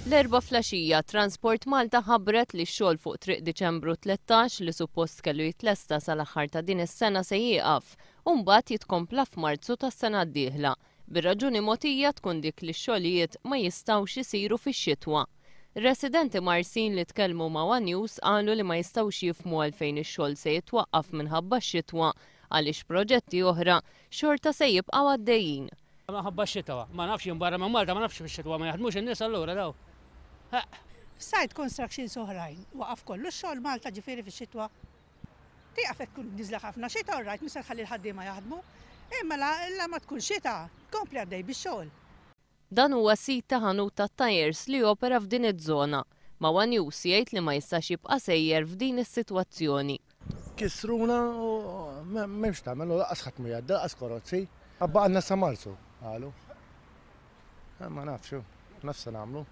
L-Erbgħa flgħaxija, Transport Malta ħabbret li x-xogħol fuq Triq Diċembru Tlettax, li suppost kellu jitlesta sal-aħħar ta' din is-sena se jieqaf u mbagħad jitkompla f'Marzu tas-sena d-dieħla, bir-raġuni mogħtija tkun dik li x-xogħlijiet ma jistgħux isiru fix-xitwa. Residenti Marsin li tkellmu ma' one News qalu li ma jistgħux jifhmu għalfejn ix-xogħol se jitwaqqaf minħabba x-xitwa għaliex proġetti oħra xorta se jibqgħu għaddejjin. Minħabba x-xitwa. Ma nafx jien barra minn Malta ma nafx fix-xitwa ma jaħdmux in-nies allura daw. Heq. F'site constructions oħrajn waqaf kollu x-xogħol Malta ġifieri fix-xitwa? Tieqaf jekk tkun niżla ħafna xita orrajt mhux se tħalli l-ħaddiema jaħdmu. Imma la la ma tkun xita, tkompli għaddej bix-xogħol. Dan huwa sit ta' ħanut tat-tyres li jopera f'din iż-żona. ma' one News jgħid li ma jistax jibqa' sejjer f'din is-sitwazzjoni. Kissruna u m'hemm x'tagħmel u lanqas ħadd mhu jgħaddi, lanqas korozzi. Baqgħilna sa Marzu, qalu. Ma nafx, ma nafx se nagħmlu.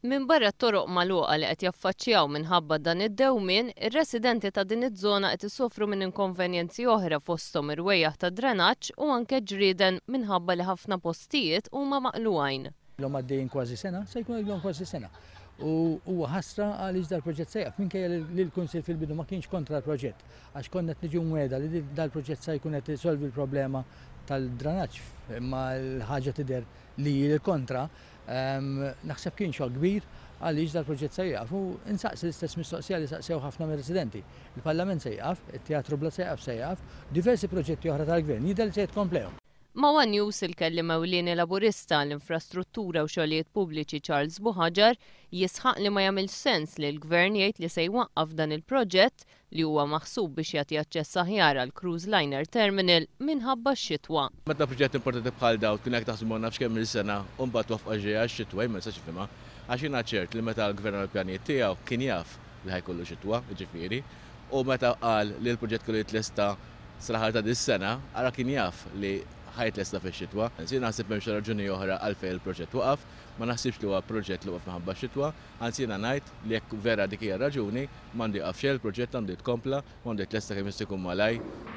Minbarra t-toroq magħluqa li qed jaffaċċjaw minħabba dan id-dewmien, ir-residenti ta' din iż-żona qed isofru minn inkonvenjenzi oħra fosthom irwejjaħ ta' drenaġġ u anke ġrieden minħabba li ħafna postijiet huma maqlugħin. Ilhom għaddejjin kważi sena, se jkun għadilhom kważi sena. U huwa ħasra għaliex dal-proġett se jaqaf minkejja li l-Kunsill fil-bidu ma kienx kontra l-proġett għax konna qed niġu mweda li dal-proġett se jkun qed isolvi l-problema tal-dranaġġ imma l-ħaġa tidher li l-kontra ehm, naħseb kien xogħol kbir għaliex dal-proġett se jgħaf u insaqsi l-istess mistoqsija li saqsew ħafna mir residenti Il-Parlament se jgħaf, it-Teatru Bla se jgħaf se jgħaf, diversi proġetti oħra tal-Gvern jidher li se jitkomplehom. Ma' one News il-Kelliem Ewlieni Laburista għall-Infrastruttura u Xogħlijiet Pubbliċi Charles Buhaġar jisħaq li ma jagħmilx sens li l-Gvern jgħid li se jwaqqaf dan il-proġett li huwa maħsub biex jagħti aċċess aħjar għal Cruise Liner Terminal minħabba x-xitwa. Meta proġett importanti bħal dawn tkun qed taħsbu għal nafx kemm-il sena u mbagħad twaffqa ġej għax-xitwa jien ma nistax nifhimha għax jiena ċert li meta l-Gvern għamel pjanijiet tiegħu kien jaf li ħa jkollu xitwa, jiġifieri, U meta qal li l-proġett kellu jitlesta sal-aħħar ta' dis-sena, ara kien jaf li ħa jitlesta fix-xitwa. Anzi, jiena naħseb m'hemmx raġuni oħra għalfejn il-proġett waqaf. Ma naħsibx li huwa proġett li waqaf minħabba x-xitwa. Anzi, jiena ngħid li jekk vera dik hija r-raġuni, m'għandu jieqaf xejn il-proġett, għandu jitkompla u għandu jitlesta kemm jista' jkun malajr.